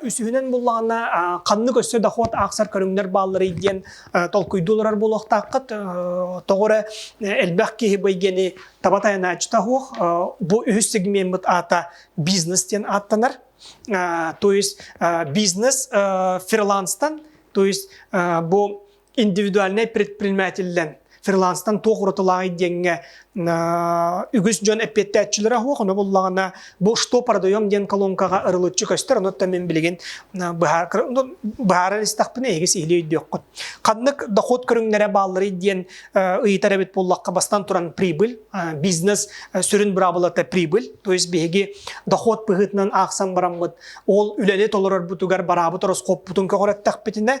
Үсүһүнэн буллаҕына ханнык өссө дохуот аахсар көрүҥнэр баалларый диэн толкуйдуу олорор буолуохтааххыт. Тоҕо эрэ элбэх киһи бу эйгэни таба тайанааччыта суох. Бу үһүс сегмеммыт аата бизнес диэн ааттанар. То есть бизнес фриланстан, то есть бу индивидуальнай предпринимателлэн фриланстан туох уратылааҕый диэҥҥэ үгүс дьон эппиэттээччилэрэ суох ону буллаҕына бу что продаем диэн колонкаҕа ырылыччы көстөр онуттан мин билигин быһаарар истэхпинэ эһиги сиһилии өйдүөххүт ханнык дохуот көрүҥнэрэ баалларый диэн ыйытар эбит буоллахха бастан туран прибыль бизнес сүрүн быраабылата прибыль то есть биһиги дохуот быһыытынан аахсан бараммыт ол үлэни толорорбутугар бараабыт ороскуоппутун көҕүрэттэхпитинэ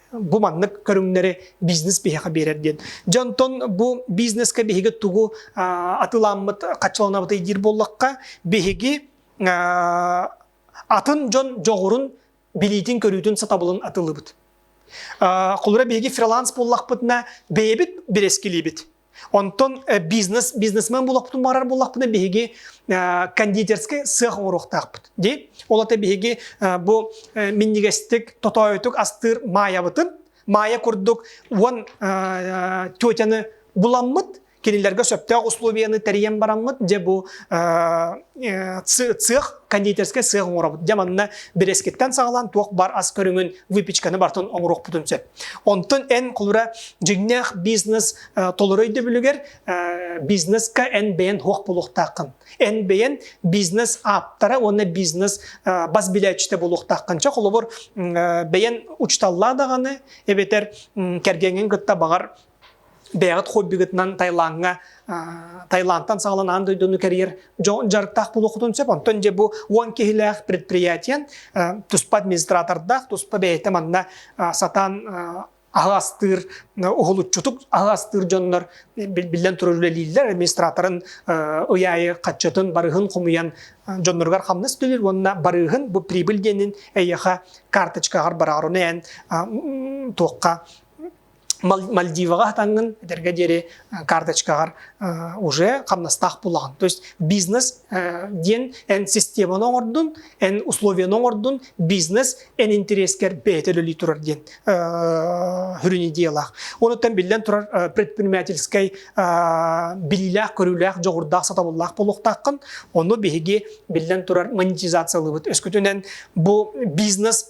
бу маннык көрүҥнэри бизнес биһиэхэ биэрэр диэн. Дьэ онтон бу бизнескэ биһиги тугу атыламмыт хаччаланабыт диир буоллахха, биһиги атын дьон дьоҕурун билиитин-көрүүтүн сатабылын атылыбыт. Холура биһиги фриланс буоллахпытына бэйэбит бирэскилиибит. Онтон бизнес бизнесмен булахпытын барар булахпытын биһиги кондитерский сыах оҥоруохтаахпыт. Ди ол ата биһиги бу миннигестик тотойтук астыр маябытын Майя курдук уон тетяны буламмыт кинилерге сөптөөх условияны тэрийэн бараммыт дьэ бу цех кондитерскай сыах оҥоробут дьэ манна бирескиттэн саҕалаан туох бар ас көрүҥүн выпечканы бартын оҥоруохпутун сөп Онтон эн кулура дьиҥнээх бизнес э, толору өйдөбүлүгэр э, бизнеска эн бэйэн хуох булуохтааххын. Эн бэйэн бизнес ааптара уонна бизнес э, бас билээччитэ булуохтааххын. Чэ холобур бэйэн учуталлаа даҕаны эбэтэр кэргэҥҥин кытта баҕар бэйэҕит хоббигытынан Таилаҥҥа Таилантан саҕалан аан дойдуну кэрийэр дьарыктаах буолуоххутун сөп. Онтон дьэ бу уон киһилээх предприятие туспа администратордаах, туспа бэйэтэ манна сатаан аһы астыыр уһулуччутук аһы астыыр дьоннор биллэн турар үлэлииллэр администраторын ый аайы хаччытын барыһын хомуйан дьонноругар хамнас төлүүр уонна барыһын бу прибыль диэнин эйиэхэ карточкаҕар бараары эн туохха Мальдиваҕа хатаҥҥын этэргэ диэри карточкаҕар уже хамнастаах булаҕын. То есть бизнес диэн эн системаны оҥордун, эн условиены оҥордун, бизнес эн интэриэскэр бэйэтэ үлэлии турар диэн сүрүн идеялаах. Онуттан биллэн турар предпринимательскай билиилээх-көрүүлээх дьоҕурдаах сатабыллаах буолуохтааххын. Ону биһиги биллэн турар монетизациялыыбыт. Өскөтүнэн бу бизнес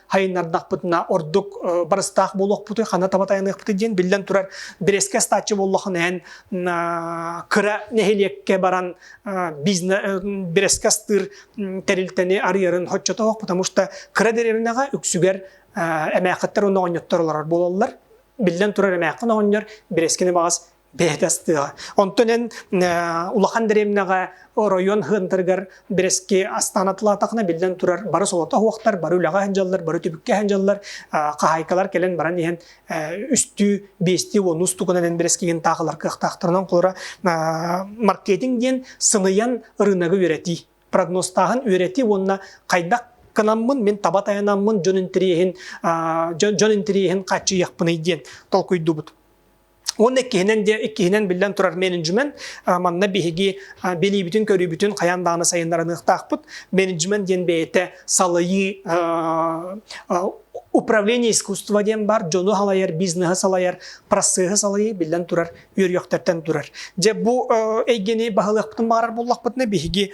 хайыннардахпытына ордук барыстаах буолуохпутуй хана таба тайаныахпытый диэн биллэн турар бирэскэ астааччы буоллахын иһэн кыра нэһилиэккэ баран бирэскэ астыыр тэрилтэни арыйарын хоччотоох потому что кыра деревняҕа үксүгэр эмээхиттэр уонна оҕонньоттор олорор буолаллар биллэн турар эмээххин оҕонньор бирэскини баҕас бэйэтэ астыа. Онтон эн улахан дэриэмнэҕэ оройуон хыантарыгар бэрэски астаан атылаатахына биллэн турар бары солото оһуохтар, бары үлэҕэ сылдьаллар, бары түбүккэ сылдьаллар. хаһаайкалар кэлэн баран иһэн үстүү, биэстии уон уустугунан эн бэрэскигин таахылар кыахтаахтарынан холура маркетинг диэн сыныйан ырыынагы үөрэтии. Прогнозтааһын үөрэтии уонна хайдах кынаммын, мин таба тайанаммын, дьон интэриэһин, дьон интэриэһин хааччыйыахпыный диэн толкуйдубут. Уонна иккиһинэн диэ иккиһинэн биллэн турар менеджмент манна биһиги билиибитин-көрүүбүтүн хайаан даҕаны сайыннарыныахтаахпыт. Менеджмент диэн бэйэтэ салайыы управление искусство диэн бар, дьону салайар, бизнеһи салайар, процеһы салайыы биллэн турар үөрүйэхтэртэн турар. Дьэ бу эйгэни баһылыахпытын баҕарар буллахпытына биһиги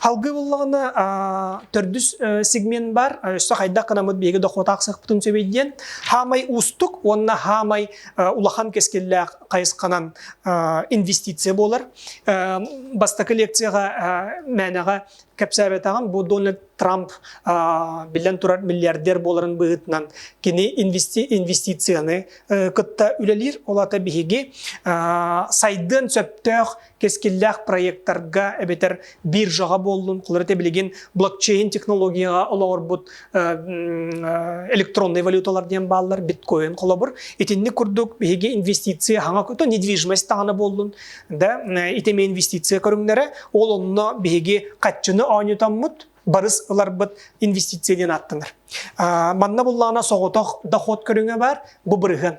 Халгы буллаҕына төрдүс сегмент бар, өссө хайдах гынамыт биһиги дохуотаахсахпытын сөбей диэн хаамай уустук уонна хаамай улахан кэскиллээх хайысханан инвестиция буолар. Бастакы лекцияга мээнэҕэ кэпсээбэтаҕым бу Дональд Трамп биллэн турар миллиардер буоларын быһыытынан кини инвестицияны кытта үлэлиир ол ата биһиги сайдыан сөптөөх кэскиллээх проектарга эбэтэр биржаҕа буоллун, холобура этэ билигин блокчейн технологияҕа олоҕурбут электроннай валюталар диэн бааллар биткоин холобур. Итинник курдук биһиги инвестиция хаҥа көтө недвижимость даҕаны буоллун, да итэмэ инвестиция көрүҥнэрэ ол онно биһиги хаччыны оонньутаммыт барыс ыларбыт инвестиция диэн ааттанар. Манна буллаҕына соҕотох доход көрүҥэ баар, бу бырыһын.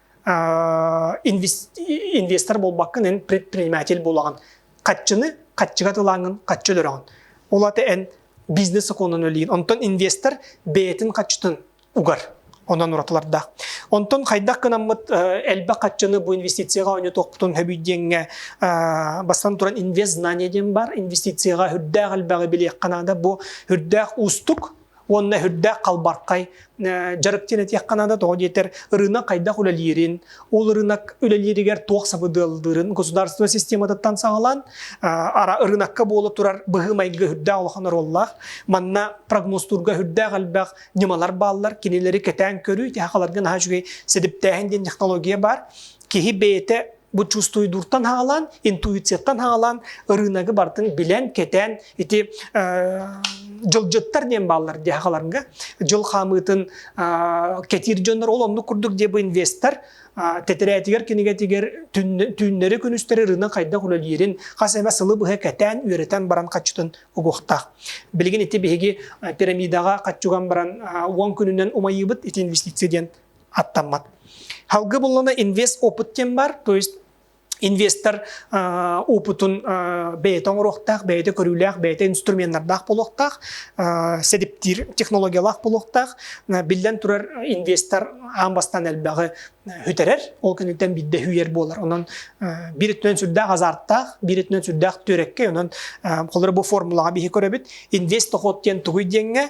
инвестор буолбаккын эн предприниматель буолаҕын хаччыны хаччыга тылааҥын хаччы өлөрөҕүн ол ата эн бизнес сокуонун өлүйүн онтон инвестор бэйэтин хаччытын угар онон уратылардаах онтон хайдах кынаммыт элбэх хаччыны бу инвестицияҕа ойнотуохпутун хөбүй диэҥҥэ бастан туран инвест знание диэн бар инвестицияҕа үрдээх элбэҕи билиэххэ наада бу үрдээх уустук уонна үрдээх халбархай дьарык диэн этиэххэ наада тоҕо диэтэр ырыынак хайдах үлэлиирин ол ырыынак үлэлииригэр туох сабыдыаллыырын государственнай систематыттан саҕалаан ырыынакка буола турар быһыы-майгы үрдээх улахан оруоллаах манна прогнозтуурга үрдээх элбэх ньымалар бааллар кинилэри кэтээн көрүү тиһэхаларга наһаа үчүгэй сэдиптээһин диэн технология баар киһи бэйэтэ Бу чувствуйдуртан хаалан, интуицияттан хаалан, ырыынагы бартын билэн, кэтэн, ити дьылдьыттар диэн бааллар диэхаларга дьыл хаамыытын кэтиир дьоннор ол оннук курдук диэ бу инвестор тэтирээтигэр кинигэтигэр түүннэри күнүстэри ырыынак хайдах үлэлиирин хас эмэ сылы быһа кэтээн үөрэтэн баран хаччытын угуохтаах билигин ити биһиги пирамидаҕа хаччуган баран уон күнүнэн умайыыбыт ити инвестиция диэн аттаммат. Халгы буллана инвест опыт кем бар, то есть инвестор опытун бэйэтэ оҥоруохтаах, бэйэтэ көрүүлээх, бэйэтэ инструменнардаах буолуохтаах, сэдиптиир технологиялаах буолуохтаах. Биллэн турар, инвестор аан бастан элбэҕи үтэрэр, ол күнүттэн биирдэ үһүйэр буолар. Онон биир өттүнэн сүрдээх азарттаах, биир өттүнэн сүрдээх түөрэккэй. Онон холобур бу формулаҕа биһи көрөбүт. Инвест доход диэн тугуй диэҥҥэ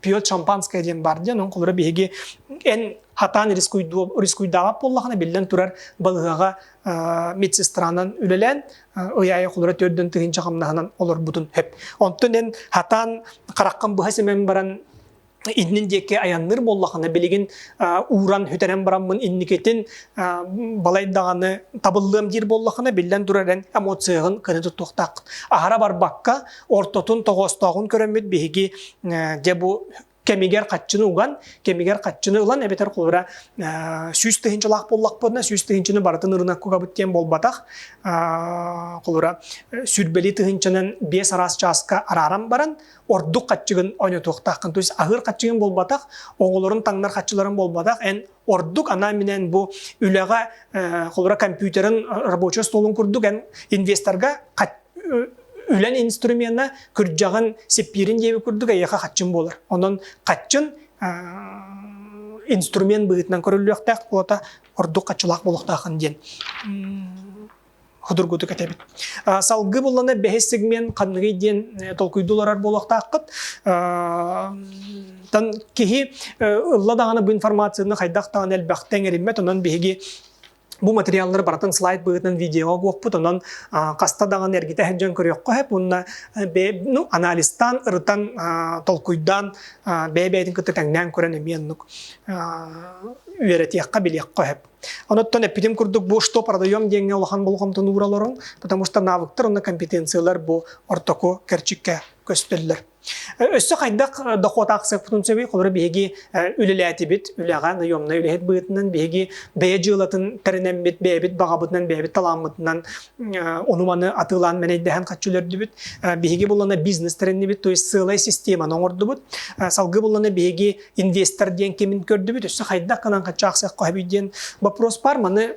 пьет шампанское диэн бар диэн холура биһиги эн атаан рискуйдааҕа буоллаҕына биллэн турар балыһаҕа медсестранан үлэлээн ыйаайы холура төрдөн тыһынча хамнаһынан олорбутун хэп онтон эн хатаан хараххын быһа симэн баран иннин диэки аянныр буоллахына билигин ууран хүтэрэн бараммын инникитин балайдаҕаны табыллыам диир буоллахына биллэн турар эн эмоцияҕын көнө туттуохтааххын аһара барбакка ортотун тоҕоостооҕун көрөммүт биһиги дьэ бу кэмигэр хаччыны уган, кэмигэр хаччыны ылан эбэтэр холобура сүүс тыһыынчалаах буоллахпытына сүүс тыһыынчаны барытын ырынаккабыт диэн буолбатах. Холобура сүрбэлии тыһыынчанан биэс араас чааска арааран баран ордук хаччыгын ойнотуохтааххын. То есть аһыыр хаччыгын буолбатах, оҕолорун таҥнар хаччыларын буолбатах, эн Ордук анаан-минээн бу үлэҕэ холура компьютерын рабочай столун курдук эн инвесторга үлэн инструмена күрдьэҕин сиппиирин диэби курдук эйиэхэ хаччын буолар. Онон хаччын инструмент быһыытынан көрүллүөхтээх уота ордук хаччылаах буолуохтаахын диэн ходургутук этэбит. Салгыы буллана бэһис сегмент ханныгый диэн толкуйду олорор буолуохтааххыт. Тан киһи ылла даҕаны бу информацияны хайдах даҕаны элбэхтэ эҥэриммэт, онон биһиги бу материаллары барытын слайд быһыытынан видеоҕа буоппут, онон хаста даҕаны эргитэ сылдьан көрүөххэ сөп уонна ну, анализтаан, ырытан, толкуйдаан, бэйэ-бэйэтин кытта тэҥнээн көрөн эмиэ оннук үөрэтиэххэ, билиэххэ сөп. Онуттан эппитим курдук бу что продаем диэҥҥэ улахан болҕомтону ууралларын, потому что навыктар уонна компетенциялар бу ортоку кэрчиккэ көстөллөр. Өссө хайдах дохуот аахсыппытын сөбүй холоро биһиги үлэлээтибит үлэҕэ наемнай үлэһит быытынан биһиги бэйэ дьыалатын тэринэммит бэйэбит баҕабытынан бэйэбит талааммытынан ону маны атыылаан мэнэйдэһэн хаччылөрдүбүт биһиги буллана бизнес тэриннибит то есть сыалай системаны оҥордубут салгы буллана биһиги инвестор диэн кимин көрдүбүт өссө хайдах гынан хачаахсыах хоһуй диэн вопрос бар маны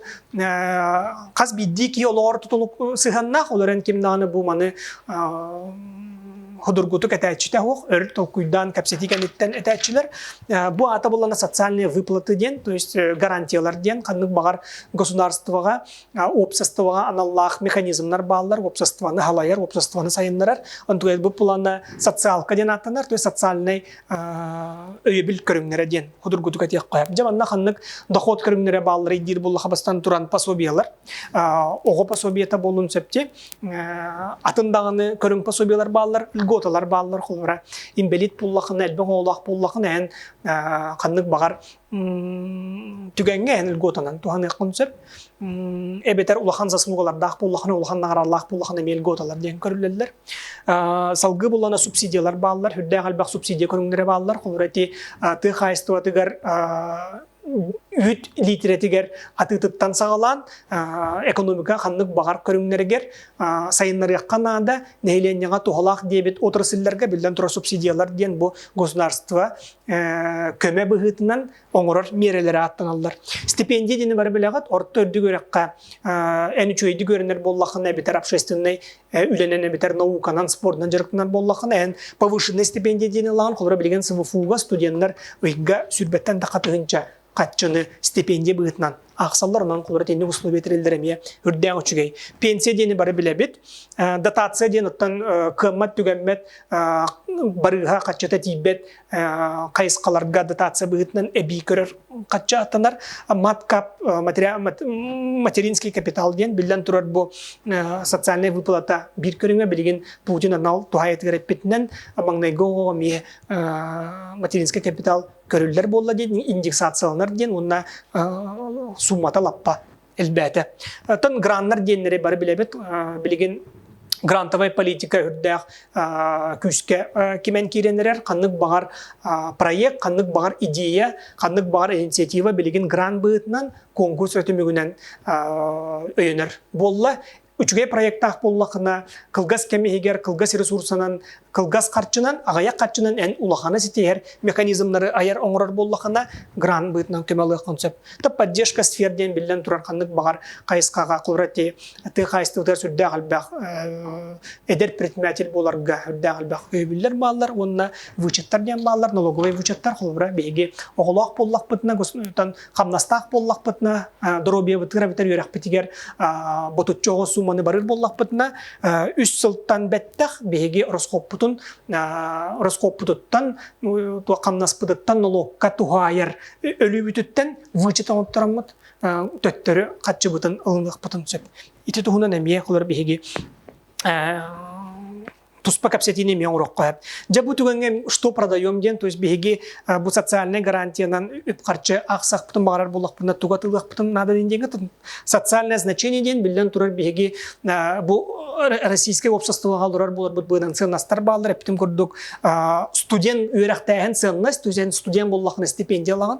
хас биирдии киһи олоҕор тутулук сыһаннаах олорон ким даҕаны бу маны ходургутук этээччитэ оһох өр толкуйдаан кэпсэтии кэнниттэн этээччилэр бу аата буллана социальные выплаты диэн то есть гарантиялар диэн ханнык баҕар государствоҕа уопсастыбаҕа аналлаах механизмнар бааллар уопсастыбаны халайар уопсастыбаны сайыннарар онтугуйа бу плана социалка диэн ааттанар то есть социальный өйөбүл көрүҥнэрэ диэн судургутук этиэххэ дьэ манна ханнык дохуот көрүҥнэрэ баалларый диир буллаха бастан туран пособиелар оҕо пособиета буолун сөпте атын даҕаны көрүҥ пособиелар бааллар льготалар бааллар холобура инбэлиит буллахына элбэх оҕолоох буллахына эн ханнык баҕар түгэҥҥэ эн льготанан туһаныаххын сөп эбэтэр улахан заслугалардаах буоллахына улахан наҕаралаах буоллахына эмиэ льготалар диэн көрүллэллэр салгыы буллана субсидиялар бааллар үрдээх элбэх субсидия көрүҥнэрэ бааллар холобура ити тыа хаһаайыстыбатыгар үүт лиитирэтигэр атыытыттан саҕалаан экономика ханнык баҕар көрүҥнэригэр сайыннарыахха наада нэһилиэнньэҕэ туһалаах диэбит отрасльларга биллэн турар субсидиялар диэн бу государство көмө быһыытынан оҥорор миэрэлэрэ ааттаналлар. Стипендия диэни бары билэҕит, орто үрдүк үөрэххэ эн үчүгэйдик үөрэнэр буоллахына эбэтэр общественнай үлэнэн эбэтэр науканан, спордунан дьарыктанар буоллахына эн повышенная стипендия диэни ылаҕын, холобура билигин СВФУ-га студеннар ыйга сүүрбэттэн да хатыһынча хаччыны стипендия быһыытынан аахсаллар онон холобура итинник условия тэриллэр эмиэ үрдээх үчүгэй пенсия диэни бары билэбит дотация диэн оттон кыаммат түгэммэт барыыһа хаччыта тиийбэт хайысхаларга дотация быһыытынан эбии көрөр хачча аттанар маткап материнский капитал диэн биллэн турар бу социальная выплата биир көрүҥэ билигин Путин анал туһайытыгар эппитинэн маҥнайгы оҕоҕо эмиэ материнский капитал көрүллэр буолла диэн индексацияланар диэн уонна суумата лаппа элбээтэ. Оттон граннар диэннэри бары билэбит. Билигин грантовай политика үрдээх күүскэ кимэн киирэн эрэр ханнык баҕар проект ханнык баҕар идея ханнык баҕар инициатива билигин грант быһыытынан конкурс өтүмүгүнэн өйөнөр буолла Үчүгэй проектаах буллахына, кылгас кэм иһигэр кылгас ресурсанан, кылгас харчынан, аҕыйах харчынан эн улахана ситиһэр механизмнары айар-оҥорор буоллахына, грант быытынан көмөлөөххүн сөп. То поддержка сфер диэн биллэн турар ханнык баҕар хайысхаҕа кулрати тыы хайыстыбытыгар сүрдээх элбэх эдэр предприниматель буоларга үрдээх элбэх өйөбүллэр бааллар уонна вычеттар диэн бааллар налоговый вычеттар холобура биһиги оҕолоох буоллахпытына хамнастаах буоллахпытына, доруобуйабытыгар бүтэр үөрэхпитигэр ботуччу оҕо сууманы барыр буоллахпытына, үс сылтан бэттэх биһиги ороскуоппутун ороскуоппутуттан хамнаспытыттан нолуокка туһаайар өлүүбүтүттэн вычетон оттороммут төттөрү хаччыбытын ылыныахпытын сөп. Ити туһунан эмиэ олор биһиги туспа кэпсэтиини эмиэ оҥороххо сөп. Дьэ бу түгэҥҥэ что продаем диэн, то есть биһиги бу социальнай гарантиянан үп-харчы ахсахпытын баҕарар буллахпытына туга тылыахпытын наада диэн диэҥҥэ социальное значение диэн биллэн турар биһиги бу российскай уопсастыбаҕа олорор буоларбыт быынан сыаннастар бааллар эптим курдук студент үөрэхтээһин сыаннас то есть студент буллахын истипиэндия ылаҕын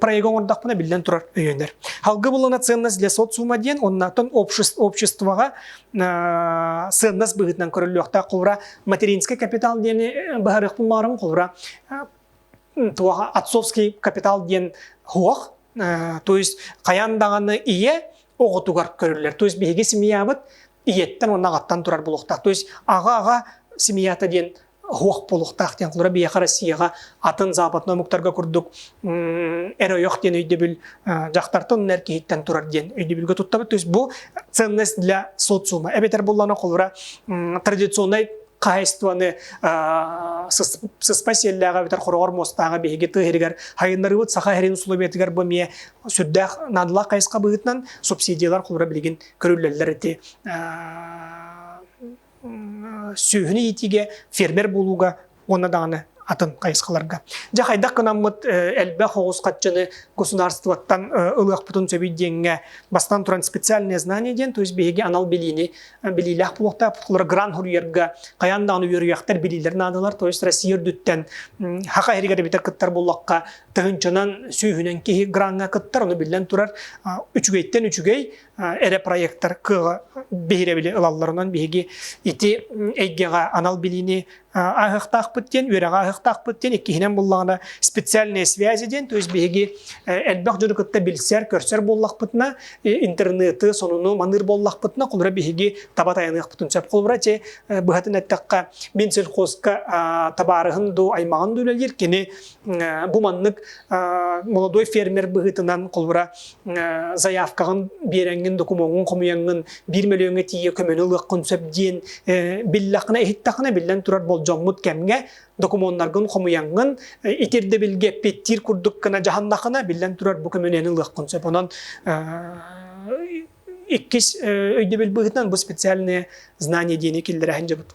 проега оҥордохпуна биллэн турар өйөнөр. Алгыбылына ценность для социума диэн, оннаттан обществоҕа ценность быһыытынан көрүллүөхтээх холура материнский капитал диэни баһарыахпын баарым холура туоха отцовский капитал диэн хуох, то есть хайан даҕаны ийэ оҕотугар көрүллэр. То есть биһиги семьябыт ийэттен уонна ағаттан турар булуохтаах. То есть аға аға семьята диэн оһуох буолуохтаах диэн холура биһиэхэ Россияҕа атын западный омуктарга курдук эр ойох диэн өйдөбүл дьахтартан эр киһиттэн турар диэн өйдөбүлгэ туттабыт то есть бу ценность для социума эбэтэр буллана холура традиционнай хаһайыстыбаны сыспа сиэллээҕэ эбэтэр хороҕор муостааҕа биһиги тыаһырыгар хайыннарыыбыт саха эрин усулуобуйатыгар бу эмиэ сүрдээх наадалаах хайысха быһыытынан субсидиялар холура билигин көрүллэллэр ити сүөһүнү иитиигэ фермер буолууга уонна даҕаны атын хайысхаларга. Дьэ хайдах гынаммыт элбэх оҕус хаччыны государствоттан ылыахпытын сөбүй диэҥҥэ бастан туран специальные знания диэн, то есть биһиги анал билиини билиилээх буолуохтаах. грант суруйарга хайаан даҕаны үөрүйэхтэр билиилэр наадалар, то есть Россия үрдүттэн хаха иһигэр эбитэр кыттар буоллахха, тыһынчынан сүүһүнэн киһи гранҥа кыттар, ону биллэн турар үчүгэйтэн үчүгэй, эрэ проектар кыаҕа биһирэбили ылалларынан биһиги ити эйгэҕэ анал билиини аһыахтаахпыт диэн үөрэҕи аһыахтаахпыт диэн иккиһинэн буллаҕына специальные связи диэн то есть биһиги элбэх дьону кытта билсэр көрсөр буоллахпытына интернеты сонуну маныыр буоллахпытына холура биһиги таба тайаныахпытын сөп холура чи быһатын эттэххэ мин сельхозка табаарыһын дуу аймаҕын дуу үлэлиир кини Бу маннык молодой фермер быһыытынан холбура заявкаҕын биэрэҥҥин, докумуоҥҥун хомуйаҥҥын биир мөлүөҥҥэ тиийэ көмөнү ылыаххын сөп диэн биллэххинэ, иһиттэххинэ биллэн турар болдьоммут кэмҥэ докумуоннаргын хомуйаҥҥын, итирдэбилгэ эппиэттиир курдук гына дьаһаннаххына биллэн турар бу көмөнүөнү ылыаххын сөп. Онон иккис өйдөбүл быһыытынан бу специальные знания диэни киллэрэ сылдьабыт.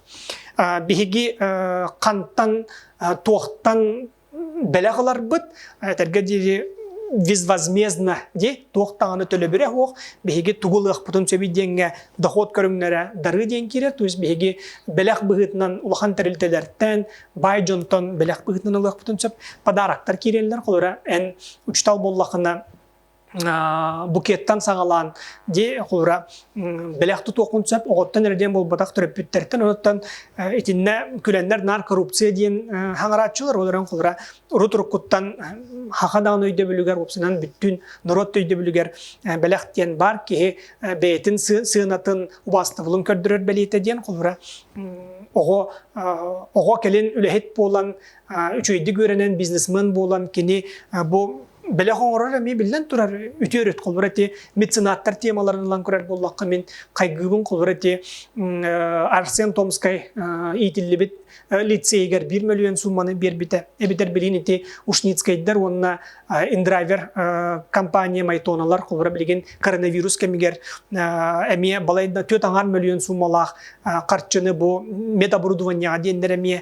Биһиги хантан, туохтан бэлэх ыларбыт, этэргэ диэри безвозмездно дии, туох даҕаны төлөбүрэ суох, биһиги тугу ылыахпытын сөбүй диэҥҥэ дохуот көрүҥнэрэ дары диэн киирэр, то есть биһиги бэлэх быһыытынан улахан тэрилтэлэртэн, баай дьонтон бэлэх быһыытынан ылыахпытын сөп, подароктар киирэллэр, холобура эн учуутал буоллаххына букеттан саҕалаан дии хуура бэлэх тутуохун сөп оҕоттон эрэ диэн буолбатах төрөппүттэртэн оттон итиннэ күлэннэр наар коррупция диэн хаҥарааччылар олорон хулура урут уруккуттан хаха даҕаны өйдөбүлүгэр упсанан бүттүн норуот өйдөбүлүгэр бэлэх диэн баар киһи бэйэтин сыанатын убаастабылын көрдөрөр бэлиэтэ диэн хулура оҕо оҕо кэлин үлэһит буолан үчүгэйдик үөрэнэн бизнесмен буолан кини бу бэлэх оҥорор эмиэ биллэн турар үтүө өрүт холбур эти меценаттар темаларын ылан көрөр буоллахха мин хайгыыбын холбур эти Арсен Томскай иитиллибит лицейгэр биир мөлүйүөн суумманы биэрбитэ эбитэр билин ити ушницкайдар уонна индрайвер компания майтоналар холбура билигин коронавирус кэмигэр эмиэ балайда түөрт аҥаар мөлүйүөн суумалаах харчыны бу медоборудованиеҕа диэннэр эмиэ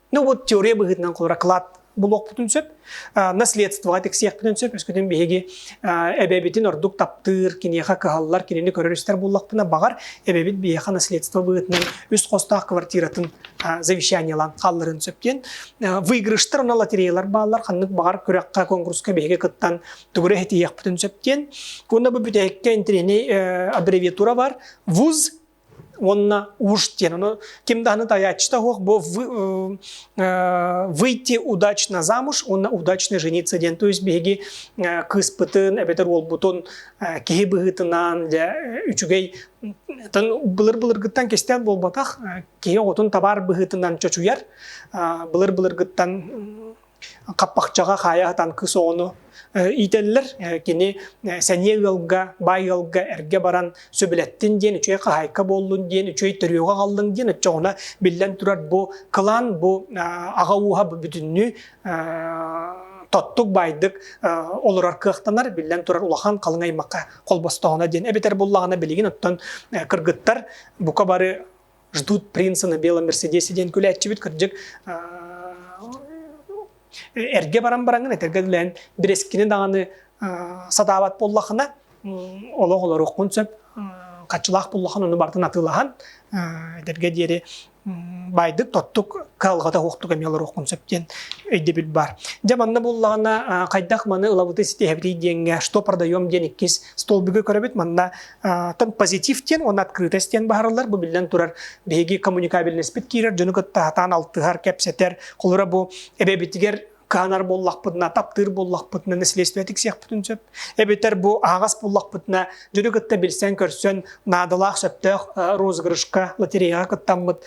Ну вот теория быһыытынан кылакраклад булуохпутун сөп, наследствоҕа тиксиэхпитин сөп, өскөтүн биһиги эбэбитин ордук таптыыр, киниэхэ кыһаллар, кинини көрөр истэр буллахпына, баҕар, эбэбит биһиэхэ наследство быһыытынан үс хостаах квартиратын завещаниелаан хаалларын сөп диэн. Выигрыштар уна лотереялар бааллар, ханнык баҕар күрэххэ, конкурска биһиги кыттан тугура этиэхпитин сөп диэн. Кунна бу бүтээккэ интириний аббревиатура бар, ВУЗ уонна уж диэн, оно ким да аны таячта хух бо вы, э, выйти удачно замуж, уонна удачно жениться диэн, то есть биһиги э, кыыспытын эбэтэр уолбутун э, киһи быһыытынан дьэ үчүгэй тан былыр-былыргыттан кистээн буолбатах киһи оҕотун табаар быһыытынан чочуйар былыр-былыргыттан хаппахчаҕа хаайа сатаан кыыс оҕону иитэллэр кини сэниэ ыалга баай ыалга эргэ баран сөбүлэттин диэн үчүгэй хаһаайка буоллун диэн үчүгэй төрүөҕэ хааллын диэн оччоҕуна биллэн турар бу кылаан бу аҕа ууһа бүтүннүү тоттук баайдык олорор кыахтанар биллэн турар улахан халыҥ аймакка холбостоҕуна диэн эбэтэр буллаҕына билигин оттон кыргыттар бука бары ждут принца на белом мерседесе диэн күлээччибит кырдьык эргэ баран бараҥын этэргэ үлээн бирэскини даҕаны сатаабат буоллахына олох олороххун сөп хаччылаах буллахан ону бартын атыылахан эдэргэ диэри байдык тоттук кыалҕата уохтук эмиэ олороххун сөп диэн өйдөбүл бар дьэ манна буллаҕына хайдах маны ылабыты ситиһэбитий диэҥҥэ что продаем диэн иккис столбуга көрөбүт манна Тоҥ позитив диэн уонна открытость диэн баһарыллар. Бу биллэн турар биһиги коммуникабельноспыт киирэр дьону кытта сатаан алтыһар, кэпсэтэр. Холура бу эбэбитигэр каанар буоллахпытына, таптыыр буоллахпытына, наследственнэ тиксиэхпитин сөп. Эбэтэр бу аһаҕас буоллахпытына, дьону кытта билсэн-көрсөн, наадалаах сөптөөх розыгрышка, лотереяҕа кыттаммыт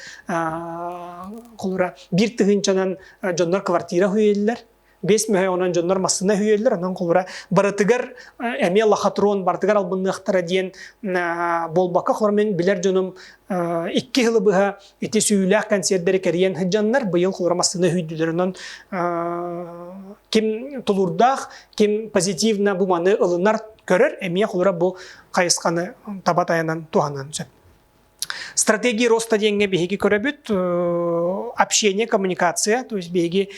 холура биир тыһыынчанан дьоннор квартира уһуйэллэр. Бес мөһө онон дьоннор массына үһүйөллөр, онон холура барытыгар эмиэ лохотрон барытыгар албынныахтара диэн болбакка хормен билер дьонум икки хылы быһа ити сүүлээх консервдери кэрийэн һыджаннар быйыл холура массына үһүйдүлөр онон ким тулурдаах, ким позитивно бу маны ылынар көрөр эмиэ холура бу хайысханы таба таянан туһанан сөп. Стратегия роста диэҥҥэ биһиги көрөбүт, общение, коммуникация, то есть биһиги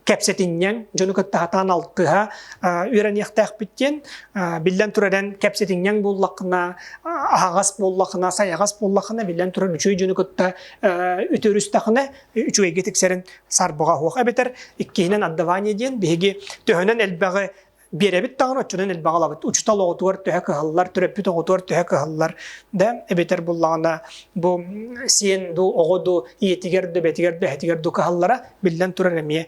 кэпсэтинньэҥ, дьону кытта хатаан алтыһа үөрэниэхтээхпит диэн, биллэн турар эн кэпсэтинньэҥ буоллаххына, аһаҕас буоллаххына, сайаҕас буоллаххына, биллэн турар үчүгэй дьону кытта үтүөрүстэххинэ, үчүгэйгэ тиксэрин сарбаҕа оһуох эбэтэр иккиһинэн отдавание диэн биһиги төһөнөн элбэҕи биэрэбит даҕаны оччонон элбэҕи ылабыт учутал оҕотугар төһө кыһаллар төрөппүт оҕотугар төһө кыһаллар да эбэтэр буллаҕына бу сиэн дуу оҕо дуу ийэтигэр да бэтигэр да эһэтигэр дуу кыһаллара биллэн турар эмиэ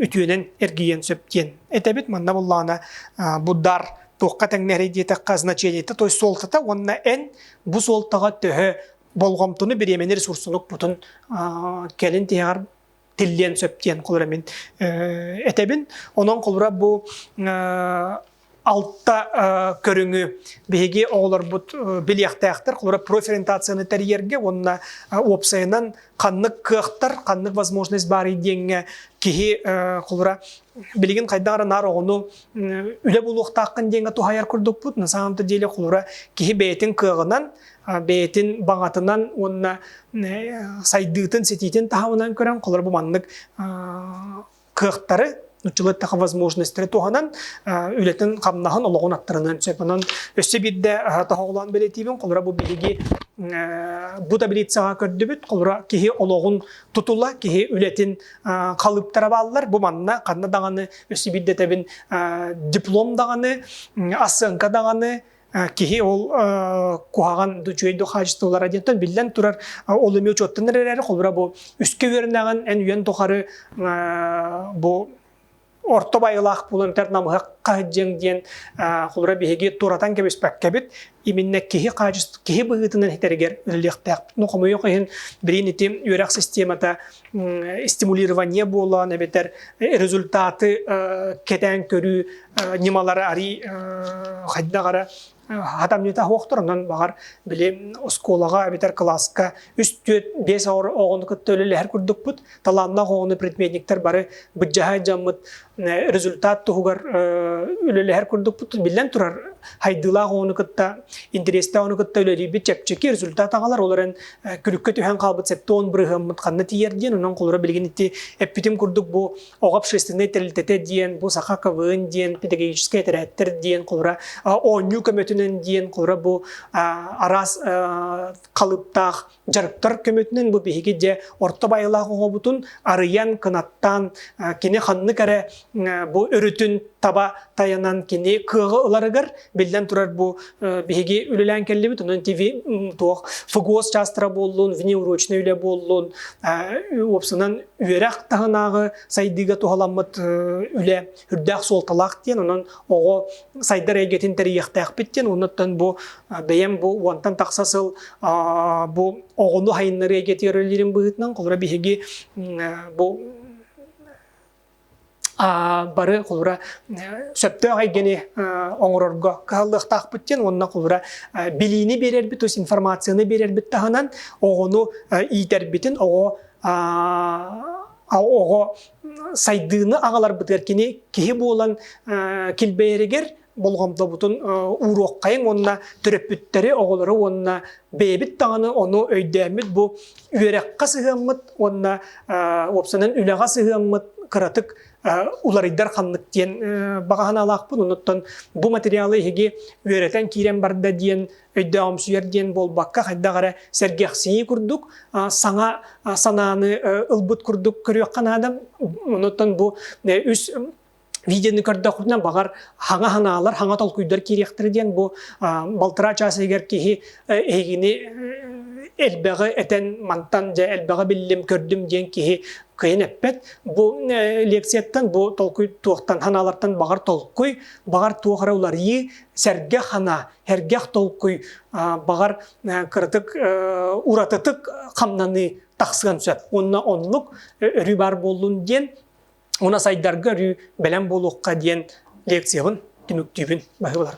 үтүөнэн эргийиэн сөп диэн этэбит манна буллаҕына буддар туохха тэҥнэһэрий диэтэххэ значениета то есть суолтата уонна эн бу суолтаҕа төһө болҕомтону бириэмэни ресурсунук путун кэлин тиһэҕэр тиллиэн сөп диэн холура мин этэбин. Онон холура бу алта көрүҥү биһиги оҕолорбут билиэхтээхтэр. Холура профориентацияны тэрийэргэ уонна уопсайынан ханнык кыахтар, ханнык возможность баарый диэҥҥэ киһи холура билигин хайдах эрэ наар оҕону үлэ булуохтааххын диэҥҥэ туһайар курдукпут. На самом деле холура киһи бэйэтин кыаҕынан бэйэтин баҕатынан уонна сайдыытын, ситиитин таһымынан көрөн холор бу маннык кыахтары нуччулы таха возможностьтары туһанан үлэтин хамнаһын олоҕун аттарынан сөп онон өссө биирдэ тоһоҕолоон бэлэтиибин холоро бу биһиги бу таблицаҕа көрдүбүт холоро киһи олоҕун тутула киһи үлэтин халыптара бааллар бу манна ханна даҕаны өссө биирдэ тэбин диплом даҕаны осанка даҕаны Киһи ол куһаҕан үчүгэй да хаачыстыбалара диэнтэн биллэн турар ол эмиэ учуоттанар эрээри холобура бу үскэ үөрэнэҕин эн үйэн тухары бу орто байылаах буолан тэр намыһахха дьиҥ диэн холобура биһиги туратан кэбиспэккэбит именно киһи хаачыст киһи быһыытынан хитэригэр үлэлиэхтээх ну хомойуох иһин билин ити үөрэх системата стимулирование буолан эбэтэр результаты кэтээн көрүү ньымалара арий хайдах эрэ хатам ньыта хуохтор онон баҕар били оскуолаҕа эбэтэр кылааска үс түөрт биэс оҕону кытта үлэлэһэр курдукпут талааннаах оҕону предметниктэр бары быдьаһай дьаммыт результат туһугар үлэлэһэр курдукпут. Биллэн турар, хайдыылаах оҕону кытта, интэриэстээх оҕону кытта үлэлиирбит чэпчэки, результат аҕалар. Ол эрэн күлүккэ түһэн хаалбыт сэттэ уон бырыһыаммыт ханна тиийэр диэн, онон холура билигин ити эппитим курдук бу оҕо общественнай тэрилтэтэ диэн, бу саха КВН диэн, педагогическай этэрээттэр диэн, холура оонньуу көмөтүнэн диэн, холура бу араас халыптаах Дьарыктар көмөтүнэн бу биһиги дьэ орто байылаах оҕобутун арыйан, кынаттаан, кини ханнык эрэ бу өрүтүн таба тайанан кини кыаҕы ыларыгар, биллэн турар бу биһиги үлэлээн кэллибит, онон ТВ туох ФГОС чаастара буоллун, внеурочнай үлэ буоллун, уопсанан үөрэх таһынааҕы сайдыыга туһаламмыт үлэ үрдээх суолталаах диэн, онон оҕо сайдар эйгэтин тэрийиэхтээхпит диэн, оннуттан бу бэйэм бу уонтан тахса сыл бу оҕону хайыннарыы эйгэтигэр үлэлиирим быһыытынан, холура биһиги бу бары холура сөптөөх эйгэни оҥорорго кыһаллыахтаахпыт диэн уонна холура билиини биэрэрбит, то есть информацияны биэрэрбит таһынан оҕону иитэрбитин, оҕо оҕо сайдыыны аҕаларбытыгар кини киһи буолан килбэйэригэр болҕомтобутун ууруоххайын уонна төрөппүттэри оҕолору уонна бэйэбит даҕаны ону өйдөөммүт бу үөрэххэ сыһыаммыт уонна уопсанан үлэҕэ сыһыаммыт кыратык уларыйдар ханнык диэн баҕаһынаалаахпын онуттан бу материалы эһиги үөрэтэн киирэн барда диэн өйдөөҕүмсүйэр диэн буолбакка хайдах эрэ сэргэхсийии курдук саҥа санааны ылбыт курдук көрүөххэ наада онуттан бу үс видеоны көрдөхпүтүнэ баҕар хаҥа санаалар хаҥа толкуйдар киириэхтэрэ диэн бу балтараа чаас ыйыгар киһи эһигини элбэҕи этэн мантан дьэ элбэҕи биллим көрдүм диэн киһи кыйын эппэт бу лекцияттан бу толкуй туохтан санаалартан баҕар толкуй баҕар туох эрэ уларыйыы сэргэ хана Эргэх толкуй, баҕар, кыратык уратытык хамнаныы тахсыан сөп. Уонна оннук өрүү баар буоллун диэн, уна сайдарга өрүү бэлэм буолуохха диэн лекциябын түмүктүүбүн баһыбылар.